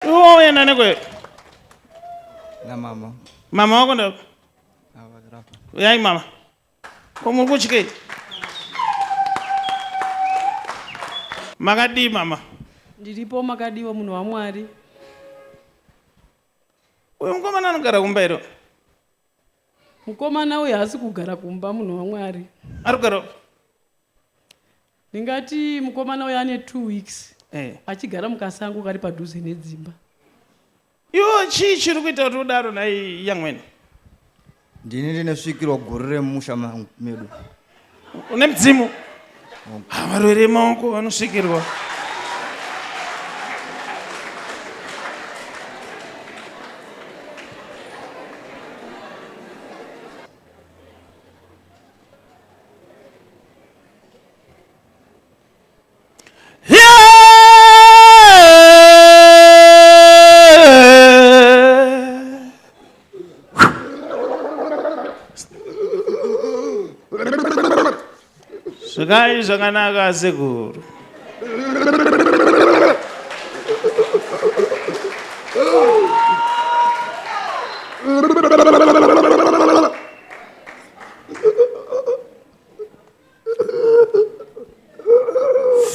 Uoya nane kwe. Na mama. Mama wako ndo. Uyai mama. Ko muri kutyei? Makadii mama? Ndiripo makadiwa munhu waMwari. Uyu mukomana anogara kumba iro. Mukomana uyu haasi kugara kumba munhu waMwari. Ari kugara Ndingati mukomana uyo ane two weeks Eh. achigara mukasango kari padhuze nedzimba. Iwo chii chiri kuita kuti udaro nhai yamwene? ndini ndine svikiro guru remumusha mangu medu Une mudzimu? Ah, Varwere vemaoko vanosvikirwa. zvikai zvakanaka asekuru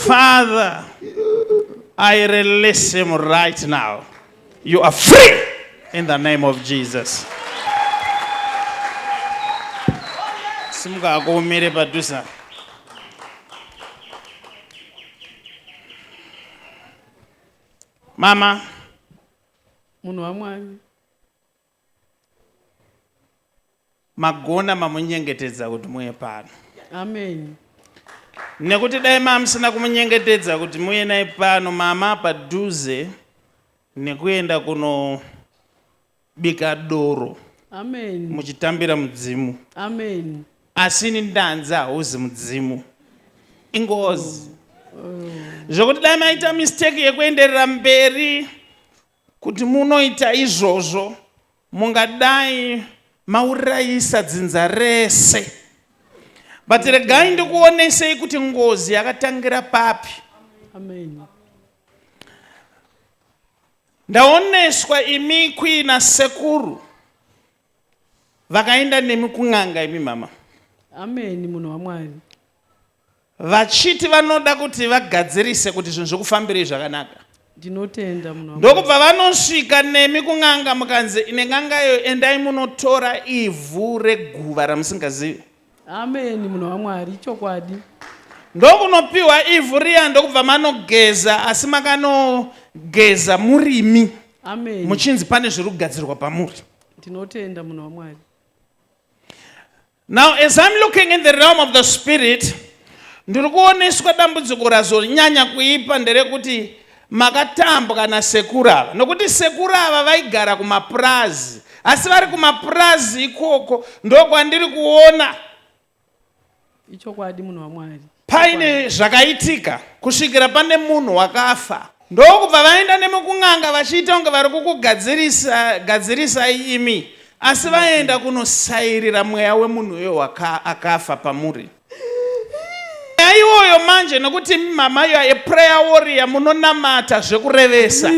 Father, I release him right now. You are free in the name of Jesus. Simuka hako umire padhuze. Mama, munhu wamwari Magona mamunyengetedza kuti muye pano. Amen. Nekuti dai mamusina kumunyengetedza kuti muye naye pano mama padhuze nekuenda kuno bika doro. Amen. Muchitambira mudzimu. Amen. Asi ini ndanzi hauzi mudzimu. Ingozi. Oh. Oh. Zvokuti dai maita mistake yekuenderera mberi. Kuti munoita izvozvo, mungadai maurayisa dzinza rese. But regai ndikuonesei kuti ngozi yakatangira papi. Amen. Ndaoneswa imi kuina sekuru vakaenda nemi kun'anga imi mama. Amen munhu waMwari. vachiti vanoda kuti vagadzirise kuti zvinhu zvikufambirei zvakanaka ndinotenda munhu wangu ndokubva vanosvika nemi kun'anga mukanzi ine n'anga iyo endai munotora ivhu reguva ramusingazivi amen munhu wamwari ichokwadi ndokunopiwa ivhu riya ndokubva manogeza asi makanogeza murimi amen muchinzi pane zviri kugadzirwa pamuri ndinotenda munhu wamwari Now as I'm looking in the realm of the spirit ndiri kuoneswa dambudziko razonyanya kuipa nderekuti makatambwa nasekuru ava nokuti sekuru ava vaigara kumapurazi asi vari kumapurazi ikoko ndokwandiri kuona ichokwadi munhu wamwari Paine zvakaitika kusvikira pane munhu wakafa ndokubva vaenda nemukun'anga vachiita kunge vari kukugadzirisa gadzirisai imi asi vaenda kunosairira mweya wemunhu uyo waka akafa pamuri nyaya iwoyo manje nokuti imi mama you are a prayer warrior munonamata zvekurevesa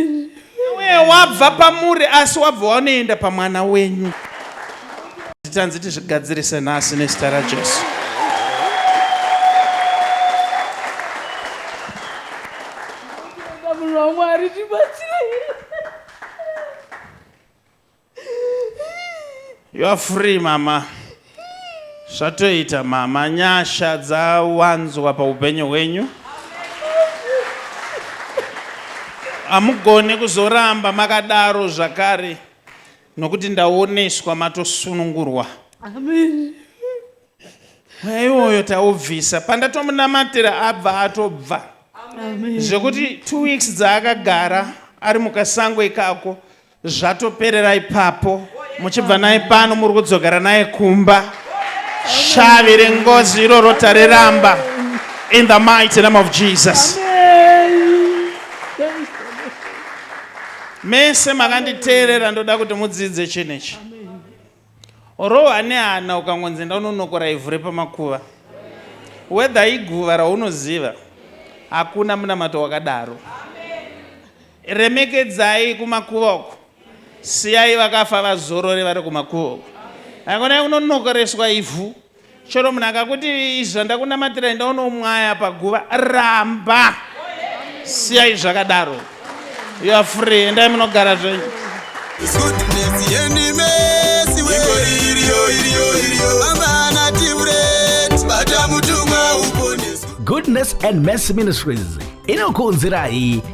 Iwe wabva pamuri asi wabva wanoenda pamwana wenyu. Titanzi tizvigadzirise nhasi nezita raJesu. Mwari tibatsire. You are free mama. Zvatoita mama, nyasha dzawanzwa paupenyu hwenyu. Hamugone kuzoramba makadaro zvakare nokuti ndaoneswa matosunungurwa. Amen. Mweya iwoyo taubvisa. Pandatomunamatira abva atobva. Amen. Zvekuti two weeks dzaakagara ari mukasango ikako Zvatoperera ipapo muchibva naye pano muri kudzokera naye kumba shavi rengozi iroro tariramba in the mighty name of jesus mese makanditeerera ndoda kuti mudzidze chinhu ichi Orohwa nehana ukangonzi enda unonokora ivhu repamakuva. Whether iguva raunoziva, hakuna munamato wakadaro. Remekedzai kumakuva uko. Siyai vakafa vazorore vari kumakuva uko. Haikona kunonokoreswa ivhu. Chero munhu akakuti izvi zvandakunamatirai ndaona umwaya paguva ramba siyai zvakadaro you are free endai munogara zvenyu Goodness and Mercy Ministries inokuunzirai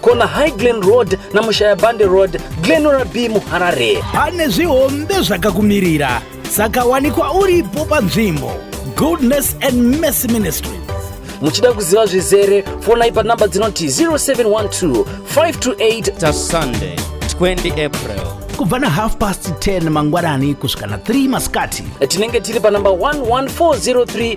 kona high glen road namushayabande road glenora b muharare pane zvihombe zvakakumirira saka wanikwa uripo panzvimbo goodness and mercy ministry muchida kuziva zvizere fonai panhamba dzinoti 0712 528 tasunday 20 april kubva na half past 10 mangwanani kusvika na 3 masikati tinenge tiri panhamba 11403